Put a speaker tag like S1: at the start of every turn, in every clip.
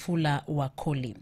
S1: Fula Wakoli.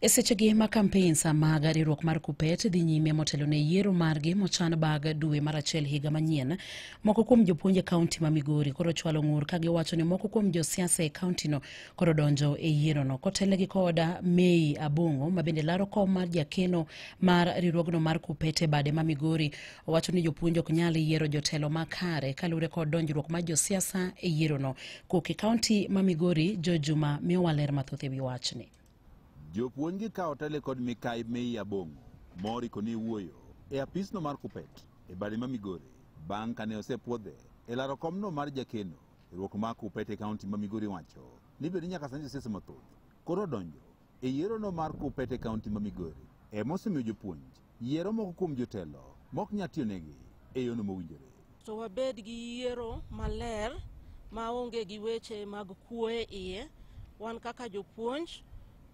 S1: E sechegi ma kampeins mag riwruok mar kupet dhi nyime motelo ne yiero margi mochan bag dwe mar achiel higa manyien moko kuom jopuonj e kaunti ma migori koro chwalo ng'ur ka giwacho ni moko kuom josiasa e kauntino koro donjo e yierono kotelnegi koda mei abong'o ma bende laro kom mar jakeno mar riwruogno mar kupet e bade ma migori Owacho ni jopuonj ok nyal yiero jotelo makare kaluwore kod donjruok mar josiasa e yierono. Kok e kaunti ma Migori, Joe Juma miyowa ler mathoth e wi wachni. Jopuonj
S2: gi kawo tele kod mikai Mei Abong'o mori koni wuoyo e apisno mar Kupet e bade ma Migori bang' kane osepwodhe e laro komno mar jakeno e ruok ma Kupet e kaunti ma Migori wacho ni bende nyaka sani josiasa mathoth koro odonjo E yierono mar Kuppet e kaunti ma Migori, ema osemiyo jopuonj yiero moko kuom jotelo mok nyal tiyonegi e yono mowinjore. To wabed gi
S3: yiero maler ma onge gi weche mag kuo e iye. Wan kaka jopuonj,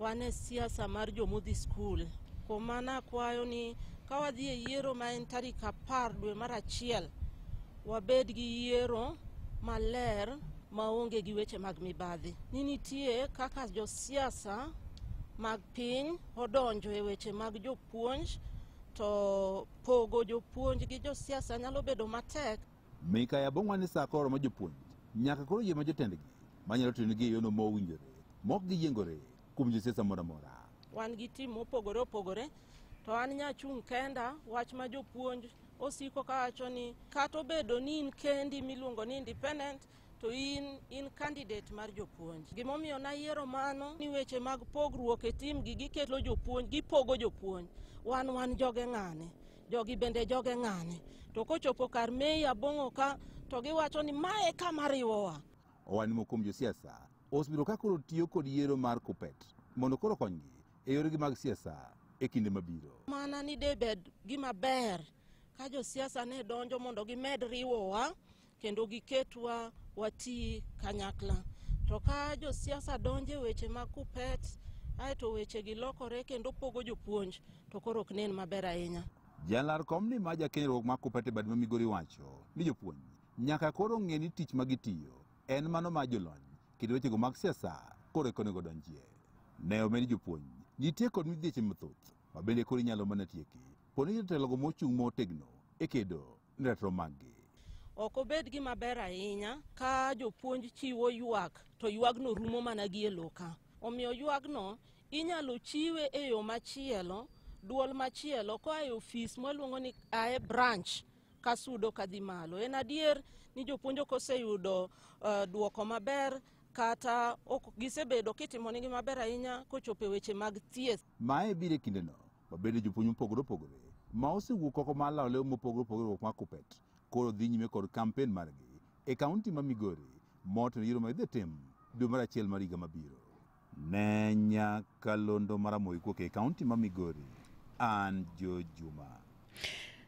S3: wan e siasa mar jomodhi skul. Kuom mano akwayo ni ka wadhi e yiero ma en tarik apar dwe mar achiel, wabed gi yiero maler maonge gi weche mag mibadhi ni nitie kaka josiasa mag piny odonjo e weche mag jopuonj to pogo jopuonj gi josiasa nyalo bedo matek mika ya bongwa
S2: ni saa koro ma jopuonj nyaka koro yie ma jotendgi manyalo tiyo nigi e yono ma owinjore mok giyiengore kuom josiasa moro amora wan gi tim
S3: mopogore opogore to an nyachung' kenda wach ma jopuonj osiko kawacho ni kata obedo ni in kendi miluongo ni independent to in in candidate mar jopuonj gimomiyo nayiero mano ni weche mag pogruok e tim gi gikelo jopuonj gipogo jopuonj wan wan joge ng'ane jogi bende joge ng'ane to kochopo kar mei abong'o ka to giwacho ni mae kama riwowa Owadni moko kuom
S2: josiasa osebiro ka koro tiyo kod yiero mar KUPPET mondo koro konygi e yoregi mag siasa e kinde mabiro. Mana ni debed
S3: gima ber ka josiasa ne donjo mondo gimed riwowa kendo giketwa wati kanyakla. To ka josiasa donjo e weche mag kupet aeto weche gi lokore kendo pogo jopuonj to koro ok nen maber ahinya. Jalar kom ni
S2: ma jakenyruok ma kupet e bad ma Migori wacho ni jopuonj nyaka koro ng'e ni tich ma gitiyo en mano ma jolony kendo wechego mag siasa koro eka onego donjie. Ne omed jopuonj nitie kod midhieche mathoth ma bende koro inyalo mana tieki poni jotelogo mochung' motegno e kedo ne ratiro maggi. Ok obed
S3: gima ber ahinya ka jopuonj chiwo ywak to ywagno rumo mana gi e loka. Omiyo ywagno inyalo chiwe e yo machielo, duol machielo koa e ofis mwaluongo ni ae branch ka sudo ka dhi malo. En adier ni jopuonj ok oseyudo uh, duoko maber kata ok gisebedo kitimonigi maber ahinya kochopo e weche mag thieth. Mae biro e kindeno
S2: mabende jopuonj mopogore opogore ma osewuok oko mar lawo lew mopogore opogore ma Kuppet koro dhi nyime kod kampen margi e kaunti ma Migori moten yiero ma idhi tim dwe mar achiel mar higa mabiro. Ne nyakalondo mar Amoyi Kuoke e kaunti ma Migori, an Joe Juma.